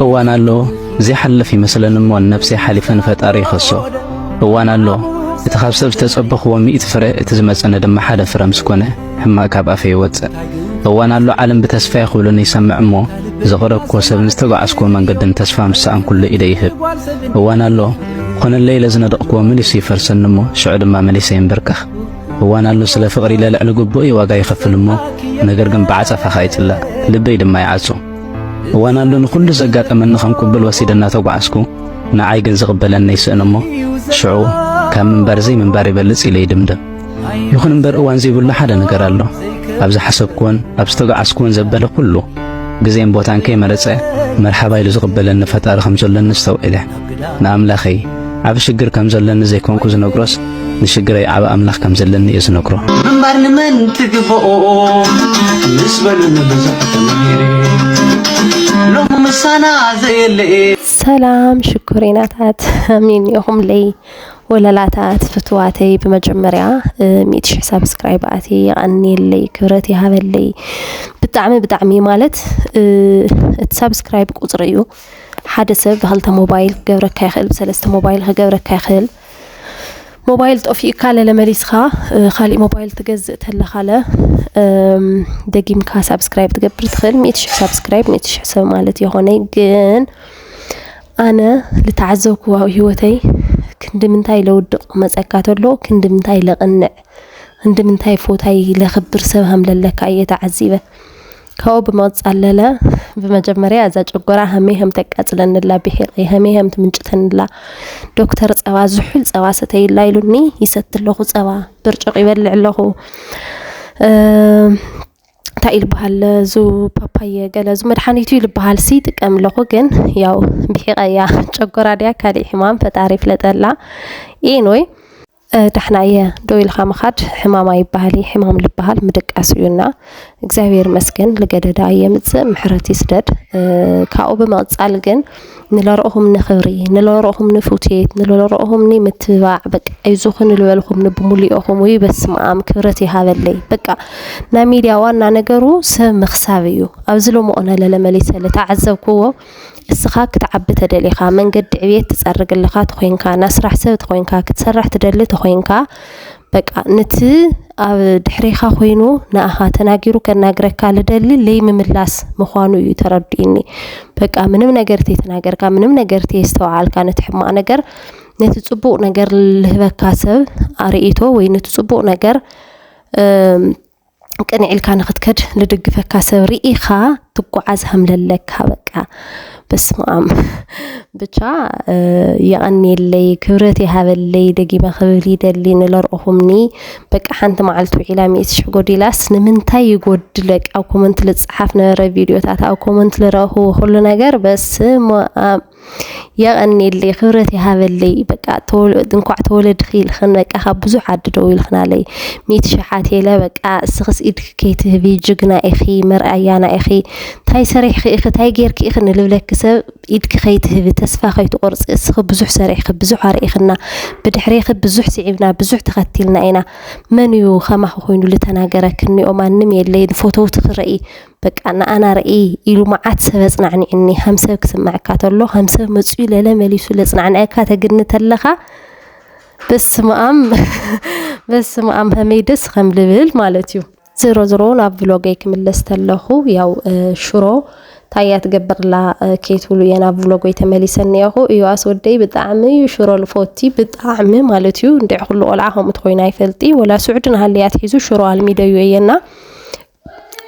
እዋን ኣሎ ዘይሓልፍ ይመስለን እሞ ነብሰይ ሓሊፈ ንፈጣሪ ይኸሶ እዋን ኣሎ እቲ ካብ ሰብ ዝተጸበኽዎ ሚእቲ ፍረ እቲ ዝመጸነ ድማ ሓደ ፍረ ምስ ኮነ ሕማቕ ካብ ኣፈ ይወጽእ። እዋን ኣሎ ዓለም ብተስፋ ክብሉኒ ይሰምዕ እሞ ዘቕረብኮ ሰብን ዝተጓዓዝክዎ መንገድን ተስፋ ምስ ሰኣንኩሉ ኢደ ይህብ። እዋን ኣሎ ኮነለይ ኢለ ዝነደቕክዎ መሊሱ ይፈርሰኒ እሞ ሽዑ ድማ መሊሰ ይንበርከኽ። እዋን ኣሎ ስለ ፍቕሪ ኢለ ልዕሊ ግቡእ ዋጋ ይኸፍል እሞ ነገር ግን ብዓጸፋኻ ይጽላእ ልበይ ድማ ይዓጹ። እዋን ኣሎ ንኹሉ ዘጋጠመኒ ከም ቅቡል ወሲደ እናተጓዓዝኩ ንዓይ ግን ዝቕበለኒ ይስእን እሞ ሽዑ ካብ ምንባር ዘይምንባር ይበልጽ ኢለ ይድምደም። ይኹን እምበር እዋን ዘይብሉ ሓደ ነገር ኣሎ። ኣብ ዝሓሰብኩዎን ኣብ ዝተጓዓዝኩዎን ዘበለ ኩሉ ግዜን ቦታን ከይመረጸ መርሓባ ኢሉ ዝቕበለኒ ፈጣሪ ከም ዘሎኒ ኣስተውዒለ። ንኣምላኸይ ዓቢ ሽግር ከም ዘለኒ ዘይኮንኩ ዝነግሮስ ንሽግረይ ዓቢ ኣምላኽ ከም ዘለኒ እየ ዝነግሮ። ምንባር ንመን ትግብኦ ምስ በሉኒ ብዙሕ ተማሂረ ሎሚ ምሳና ዘየለየ ሰላም ሽኮሪናታት ኣሜን ኢኹም ለይ ወለላታት ፍትዋተይ ብመጀመርያ ሚእቲ ሽሕ ሳብስክራይብ ኣቲ ይቐኒየለይ ክብረት ይሃበለይ ብጣዕሚ ብጣዕሚ ማለት እቲ ሳብስክራይብ ቁፅሪ እዩ ሓደ ሰብ ብክልተ ሞባይል ክገብረካ ይኽእል፣ ብሰለስተ ሞባይል ክገብረካ ይኽእል። ሞባይል ጠፊኡካ ለለ መሊስካ ካሊእ ሞባይል ትገዝእ ተለኻለ ደጊምካ ሳብስክራይብ ትገብር ትኽእል። ሚእቲ ሽሕ ሳብስክራይብ ሚእቲ ሽሕ ሰብ ማለት የኾነይ ግን ኣነ ዝተዓዘብክዎ ኣብ ሂወተይ ክንዲ ምንታይ ለውድቕ መጸካ ተሎ ክንዲ ምንታይ ለቕንዕ ክንዲ ምንታይ ፎታይ ለኽብር ሰብ ሃምለለካ እየ ተዓዚበ። ካብኡ ብመቕጻለለ ብመጀመርያ እዛ ጨጎራ ሃሜሃም ተቃጽለንላ ብሒቐይ ሃሜሃም ትምንጭተንላ ዶክተር ጸባ ዝሑል ጸባ ሰተይላ ኢሉኒ ይሰቲ ኣለኹ ጸባ ብርጭቕ ይበልዕ ኣለኹ እንታይ እዩ ዝበሃል ዙ ፓፓየ ገለ ዙ መድሓኒቱ እዩ ዝበሃል ሲ ጥቀም ኣለኹ ግን ያው ብሒቐያ ጨጎራ ድያ ካሊእ ሕማም ፈጣሪ ይፍለጠላ ኢንወይ ዳሕና እየ ደው ኢልካ ምኻድ ሕማም ኣይበሃል እዪ ሕማም ልበሃል ምድቃስ እዩ እና እግዚኣብሔር መስገን ልገደዳ የምፅእ ምሕረት ይስደድ ካብኡ ብምቕፃል ግን ንለረእኹም ንኽብሪ ንለረእኹም ንፍትት ንለረእኹም ኒ ምትብባዕ በቃ ኣይዞኹ ንልበልኹም ንብሙሉኦኹም ውይ በስመኣም ክብረት ይሃበለይ በቃ ናይ ሚድያ ዋና ነገሩ ሰብ ምኽሳብ እዩ ኣብዚ ሎምቕነ ለለመሊሰ ልተዓዘብክዎ እስኻ ክትዓቢ ተደሊኻ፣ መንገዲ ዕብየት ትጸርግ ኣለኻ ተኾይንካ፣ ናይ ስራሕ ሰብ ተኾይንካ፣ ክትሰርሕ ትደሊ ተኾይንካ፣ በቃ ንቲ ኣብ ድሕሬኻ ኮይኑ ንኣኻ ተናጊሩ ከናግረካ ልደሊ ለይምምላስ ምዃኑ እዩ ተረዲኡኒ። በቃ ምንም ነገር ተይተናገርካ፣ ምንም ነገር ተየስተውዓልካ ነቲ ሕማቕ ነገር ነቲ ጽቡቕ ነገር ልህበካ ሰብ ኣርእይቶ ወይ ነቲ ጽቡቕ ነገር ቅንዕ ኢልካ ንክትከድ ልድግፈካ ሰብ ርኢኻ ትጓዓዝ ሃምለለካ በቃ በስማኣም ብቻ የቐንየለይ ክብረት ይሃበለይ ደጊመ ክብል ይደሊ ንለርኦኹምኒ በቃ ሓንቲ መዓልቲ ውዒላ ሚእቲ ሽሕ ጎዲላስ ንምንታይ ይጎድለቅ ኣብ ኮመንት ልፅሓፍ ነበረ ቪድዮታት ኣብ ኮመንት ልረእኹዎ ኩሉ ነገር በስማኣም የቐኔለይ ክብረት ይሃበለይ በቃ እንኳዕ ተወለድኺ ኢልኽን በቃ ካብ ብዙሕ ዓዲ ደዊልክናለይ ሚእቲ ሽሕ ኣትየለ በቃ እስኽስ ኢድኪ ከይትህቢ ጅግና ኢኺ መርኣያና ኢኺ እንታይ ሰሪሕኺ ኢኺ እንታይ ጌርኪ ኢኺ ንልብለኪ ሰብ ኢድኪ ከይትህቢ ተስፋ ከይትቆርፂ እስኺ ብዙሕ ሰሪሕኺ ብዙሕ ኣርኢኽና ብድሕሬኺ ብዙሕ ስዒብና ብዙሕ ተኸቲልና ኢና መን እዩ ከማኺ ኮይኑ ዝተናገረኪ እኒኦ ማንም የለይ ንፎተውትኺ ረኢ በቃ ንኣና ርእይ ኢሉ መዓት ሰብ ኣጽናዕኒዑኒ ከም ሰብ ክስምዐካ ተሎ ከም ሰብ መፅኡ ለለ መሊሱ ለጽናዕንዐካ ተግኒ ተለኻ በስመኣም በስመኣም ከመይ ደስ ከም ልብል ማለት እዩ ዝሮ ዝሮ ናብ ቭሎገይ ክምለስ ተለኹ ያው ሽሮ ታያ ትገብርላ ከይትብሉ እየ ናብ ቭሎጎይ ተመሊሰ እኒአኹ እዩ ኣስወደይ ብጣዕሚ እዩ ሽሮ ልፎቲ ብጣዕሚ ማለት እዩ እንድዕ ኩሉ ቆልዓ ከምኡ ትኮይኑ ኣይፈልጢ ወላ ስዑድን ሃልያ ትሒዙ ሽሮ ኣልሚደዩ እየና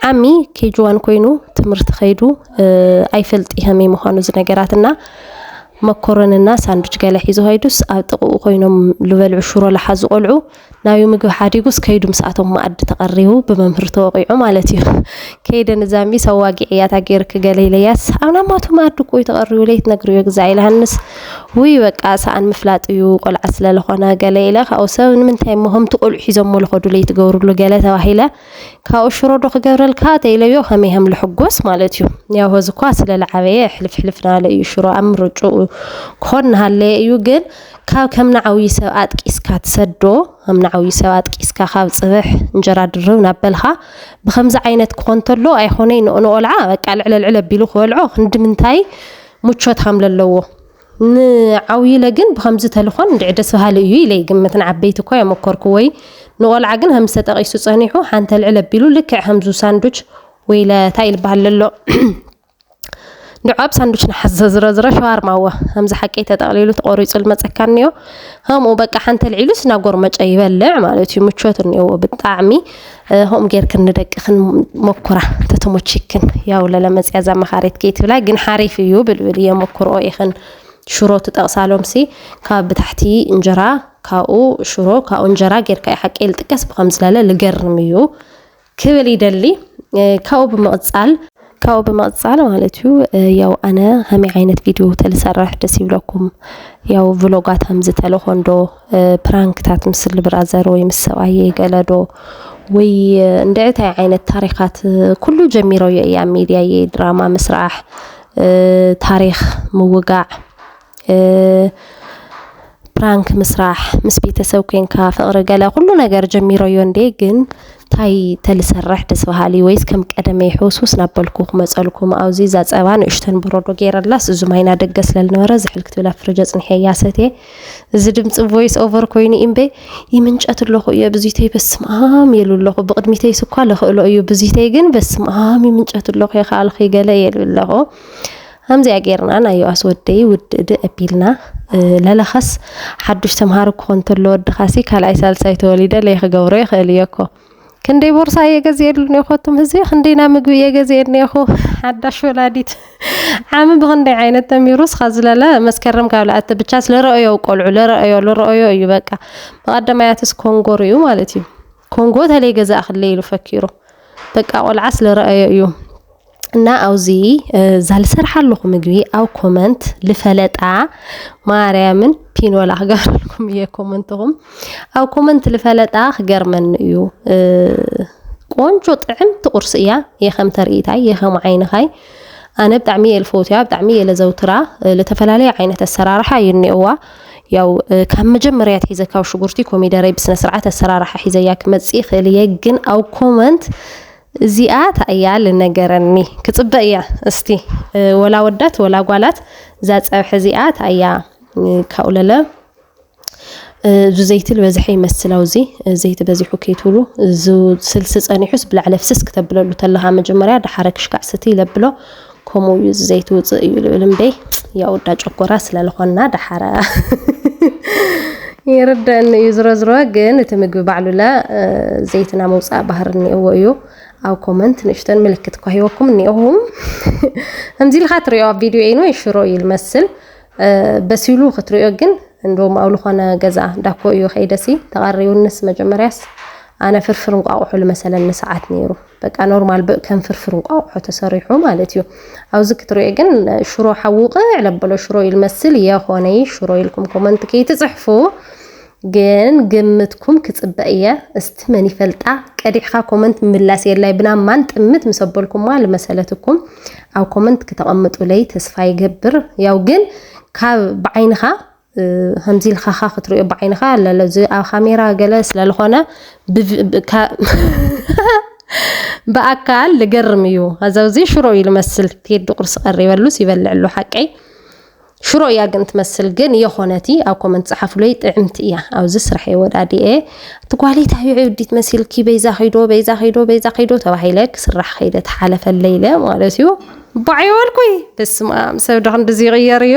ዓሚ ኬጅዋን ኮይኑ ትምህርቲ ከይዱ ኣይፈልጥ ይሀመይ ምዃኑ እዚ ነገራት እና መኮረንና ሳንዱች ገለ ሒዙ ከይዱስ ኣብ ጥቕኡ ኮይኖም ዝበልዑ ሽሮ ለሓዙ ቆልዑ ናብዩ ምግቢ ሓዲጉስ ከይዱ ምስኣቶም መኣዲ ተቐሪቡ ብመምህር ተወቂዑ ማለት እዩ ከይደ ንዛሚ ሰዋጊዕ እያታ ገይርክ ገለ ኢለያስ ኣብ ናማቱ መኣዲ ቆዩ ተቐሪቡ ለይት ነግርዮ ግዛ ኢልሃንስ ውይ በቃ ሰኣን ምፍላጥ እዩ ቆልዓ ስለለኾነ ገለ ኢለ ካብኡ ሰብ ንምንታይ ሞሆምቲ ቆልዑ ሒዞሞ ልኸዱ ለይትገብርሉ ገለ ተባሂለ ካብኡ ሽሮ ዶ ክገብረልካ ተኢለዮ ከመይ ከም ልሕጎስ ማለት እዩ ያው ሆዚ እኳ ስለ ልዓበየ ሕልፍ ሕልፍ ናለ እዩ ሽሮ ኣብ ምርጭኡ ክኾን ናሃለየ እዩ ግን ካብ ከም ንዓብዪ ሰብ ኣጥቂስካ ትሰዶ ከም ንዓብዪ ሰብ ኣጥቂስካ ካብ ፅብሕ እንጀራ ድርብ ናበልካ ብከምዚ ዓይነት ክኾን ተሎ ኣይኾነይ ንኦልዓ በቃ ልዕለ ልዕለ ቢሉ ክበልዖ ክንዲ ምንታይ ሙቾት ከም ለለዎ ንዓውይለ ግን ብከምዚ ተልኮን እንድዒ ደስ በሃሊ እዩ ኢለ ይግምት ንዓበይቲ እኳ የመኮርክዎይ ንቆልዓ ግን ከምዚ ተጠቂሱ ጸኒሑ ሓንተ ልዕል ኣቢሉ ልክዕ ከምዙ ሳንዱች ወይለ ታይ ኢል በሃል ለሎ ንዑ ኣብ ሳንዱች ንሓዘ ዝረዝረ ሸዋርማ እወ ከምዚ ሓቀይ ተጠቅሊሉ ተቆሪጹ ልመጸካ እኒኦ ከምኡ በቃ ሓንተ ልዒሉስ ናጎርመጨ ይበልዕ ማለት እዩ ምቾት እኒኦዎ ብጣዕሚ ሆም ጌርክን ንደቅክን ሞኩራ ተተሞቺክን ያው ለለመፅያ እዛ መኻሪት ከይ ትብላ ግን ሓሪፍ እዩ ብልብል እየ ሞኩርኦ ኢኽን ሽሮ ትጠቕሳሎምሲ ካብ ብታሕቲ እንጀራ ካብኡ ሽሮ ካብኡ እንጀራ ጌርካ እዩ ሓቂ ልጥቀስ ብከምዝለለ ልገርም እዩ ክብል ይደሊ ካብኡ ብምቕፃል ካብኡ ብምቕጻል ማለት እዩ ያው ኣነ ከመይ ዓይነት ቪድዮ ተልሰርሕ ደስ ይብለኩም ያው ቭሎጋት ከምዚ ተለኾንዶ ፕራንክታት ምስ ልብራዘር ወይ ምስ ሰብኣየ ገለዶ ወይ እንድዕታይ ዓይነት ታሪኻት ኩሉ ጀሚረዮ እያ ሚድያየ ድራማ ምስራሕ ታሪክ ምውጋዕ ፕራንክ ምስራሕ ምስ ቤተሰብ ኮንካ ፍቅሪ ገለ ኩሉ ነገር ጀሚረዮ እንዴ ግን ታይ ተልሰርሕ ደስ በሃሊ ወይስ ከም ቀደመይ ሕውስውስ ናበልኩ ክመፀልኩ ኣብዚ እዛ ፀባ ንእሽተን በረዶ ገይረላስ እዚ ማይ ናደገ ስለልነበረ ዝሕል ክትብል ኣብ ፍርጅ ኣፅኒሐያ ሰትየ እዚ ድምፂ ቮይስ ኦቨር ኮይኑ እምበይ ይምንጨት ኣለኹ እየ ብዙተይ በስመ ኣም የሉ ኣለኹ ብቅድሚተይ ስኳ ልኽእሎ እዩ ብዙተይ ግን በስመ ኣም ይምንጨት ኣለኹ የኸኣልኺ ገለ የሉ ኣለኹ ሀምዚኣ ጌርና ናይ ዮኣስ ወደይ ውድእ ድእ ኣቢልና ለለኸስ ሓዱሽ ተምሃሩ ክኾን ተሎ ወድኻሲ ካልኣይ ሳልሳይ ተወሊደ ለይክገብሮ ይኽእል እየኮ ክንደይ ቦርሳ እየ ገዚኤሉ ኔኮቱም ህዝቢ ክንደይና ምግቢ እየ ገዚኤ ኔኹ ሓዳሽ ወላዲት ዓሚ ብክንደይ ዓይነት ተሚሩ ስኻ ዝለለ መስከረም ካብ ለኣቲ ብቻ ስለረአዮ ቆልዑ ለረአዮ ለረአዮ እዩ በቃ መቐደማያትስ ኮንጎ ርዩ ማለት እዩ ኮንጎ ተለይ ገዛእ ክለይ ኢሉ ፈኪሩ በቃ ቆልዓ ስለረአዮ እዩ እና ኣብዚ እዛ ልሰርሓለኹ ምግቢ ኣብ ኮመንት ልፈለጣ ማርያምን ፒኖላ ክገብረልኩም እየ ኮመንትኹም ኣብ ኮመንት ልፈለጣ ክገርመኒ እዩ ቆንጆ ጥዕምቲ ቁርሲ እያ የኸም ተርእይታይ የኸም ዓይንኻይ ኣነ ብጣዕሚ እየ ልፈውትያ ብጣዕሚ እየ ለዘውትራ ለተፈላለየ ዓይነት ኣሰራርሓ እዩ እኒኦዋ ያው ካብ መጀመርያ ትሒዘ ካብ ሽጉርቲ ኮሚደረይ ብስነ ስርዓት ኣሰራርሓ ሒዘያ ክመፅእ ይኽእል እየ ግን ኣብ ኮመንት እዚኣ ታይ እያ ልነገረኒ ክፅበ እያ እስቲ ወላ ወዳት ወላ ጓላት እዛ ፀብሒ እዚኣ ታይ እያ ካብኡ ለለ እዚ ዘይቲ ዝበዝሐ ይመስል ኣውዚ ዘይቲ በዚሑ ከይትብሉ እዚ ስልሲ ፀኒሑስ ብላዕለ ፍስስ ክተብለሉ ተለካ መጀመርያ ደሓረ ክሽካዕ ስቲ ይለብሎ ከምኡ እዩ እዚ ዘይትውፅእ እዩ ልብል እምበይ ያው እዳ ጨጎራ ስለልኾና ዳሓራ ይርደአኒ እዩ ዝሮ ዝሮ ግን እቲ ምግቢ ባዕሉለ ዘይትና መውፃእ ባህር እኒኦዎ እዩ ኣብ ኮመንት ንእሽተን ምልክት እኳ ሂወኩም እኒኦኹም ከምዚ ኢልካ ትሪኦ ኣብ ቪድዮ ኢኑ ሽሮ እዩ ልመስል በሲሉ ክትሪኦ ግን እንደውም ኣብ ዝኾነ ገዛ ዳኮ እዩ ከይደሲ ተቐሪውንስ መጀመርያስ ኣነ ፍርፍር እንቋቑሑ ልመሰለኒ ሰዓት ነይሩ በቃ ኖርማል ብ ከም ፍርፍር እንቋቑሖ ተሰሪሑ ማለት እዩ። ኣብዚ ክትሪኦ ግን ሽሮ ሓዊ ውቕዕ ለበሎ ሽሮ እዩ ልመስል የኾነይ ሽሮ ኢልኩም ኮመንት ከይትጽሕፉ ግን ግምትኩም ክጽበ እየ እስቲ መን ይፈልጣ ቀዲሕኻ ኮመንት ምላስ የላይ ብና ማን ጥምት ምስ ኣበልኩማ ልመሰለትኩም ኣብ ኮመንት ክተቐምጡለይ ተስፋ ይገብር ያው ግን ካብ ብዓይንኻ ከምዚ ኢልካኻ ክትሪኦ ብዓይንኻ ለለ እዚ ኣብ ካሜራ ገለ ስለልኾነ ብኣካል ልገርም እዩ ኣዛውዚ ሽሮ እዩ ልመስል ቴዲ ቁርሲ ቀሪበሉስ ይበልዕ ኣሎ ሓቀይ ሽሮ እያ ግን ትመስል ግን የኾነቲ ኣብ ኮመንት ፀሓፍለይ ጥዕምቲ እያ ኣብዚ ስራሕ የወዳድኤ እቲ ጓሌት ኣዩ ዕብዲት መሲልኪ በይዛ ከይዶ በይዛ ከይዶ በይዛ ከይዶ ተባሂለ ክስራሕ ከይደ ተሓለፈለይ ኢለ ማለት እዩ ባዕዮ በልኩይ በስመ ኣብ ሰብ ዶ ክንድዚ ይቕየር እዩ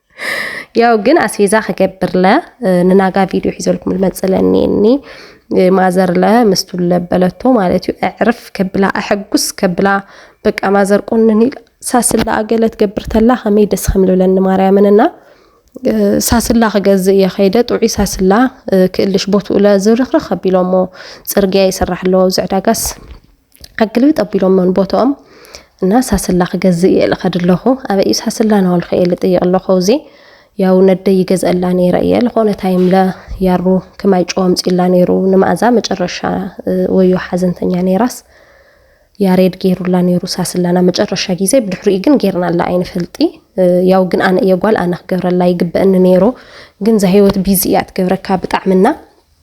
ያው ግን ኣስቤዛ ክገብርለ ንናጋ ቪድዮ ሒዘልኩም ልመፅለ እኒ ማዘርለ ምስቱ ለበለቶ ማለት እዩ ኣዕርፍ ከብላ ኣሐጉስ ከብላ በቃ ማዘር ቆንን ሳስላ ኣገለት ገብር ተላ ከመይ ደስ ከም ልብለኒ ማርያምን እና ሳስላ ክገዝእ እየ ከይደ ጥዑይ ሳስላ ክእልሽ ቦትኡ ለዝርኽርኽ ኣቢሎሞ ፅርግያ ይስራሕ ኣለዎ ኣብዚ ዕዳጋስ ኣግልብጥ ኣቢሎሞን ቦትኦም እና ሳስላ ክገዝእ እየ ኢለ ከድ ኣለኹ ኣበይ እዩ ሳስላ ናበልኩ እየ ልጥይቕ ኣለኹ ኣብዚ ያው ነደይ ይገዝአላ ነይረ እየ ዝኾነ ታይም ለ ያሩ ክማይ ጨው ኣምፂላ ነይሩ ንመኣዛ መጨረሻ ወዮ ሓዘንተኛ ነይራስ ያሬድ ገይሩላ ነይሩ ሳስላና መጨረሻ ግዜ ብድሕሪኡ ግን ጌርናላ ኣይንፈልጢ ያው ግን ኣነ እየ ጓል ኣነ ክገብረላ ይግበአኒ ነይሩ ግን እዛ ሂወት ቢዚ እያ ትገብረካ ብጣዕምና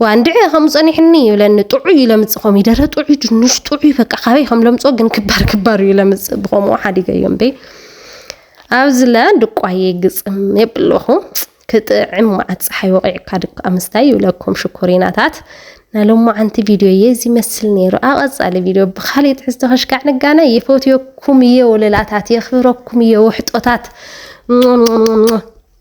ዋ እንድዒ ከምኡ ጸኒሕኒ ይብለኒ ጥዑይ ለምጽ ኮም ይደረ ጥዑይ ድንሽ ጥዑይ በቃ ካበይ ከም ለምጾ ግን ክባር ክባር እዩ ለምጽ ብከምኡ ሓዲገዮ እምበይ ኣብዚ ለ ድቋየ ግጽም የብለኹ ክጥዕም መዓት ፀሓይ ወቂዕካ ድካ ምስታይ ይብለኩም ሽኮሪናታት ናይ ሎማዓንቲ ቪድዮ እየ እዚ መስል ነይሩ ኣቐፃሊ ቪድዮ ብካሊእ ትሕዝቶ ከሽካዕ ንጋነ የፈትዮኩም እየ ወለላታት የኽብረኩም እየ ውሕጦታት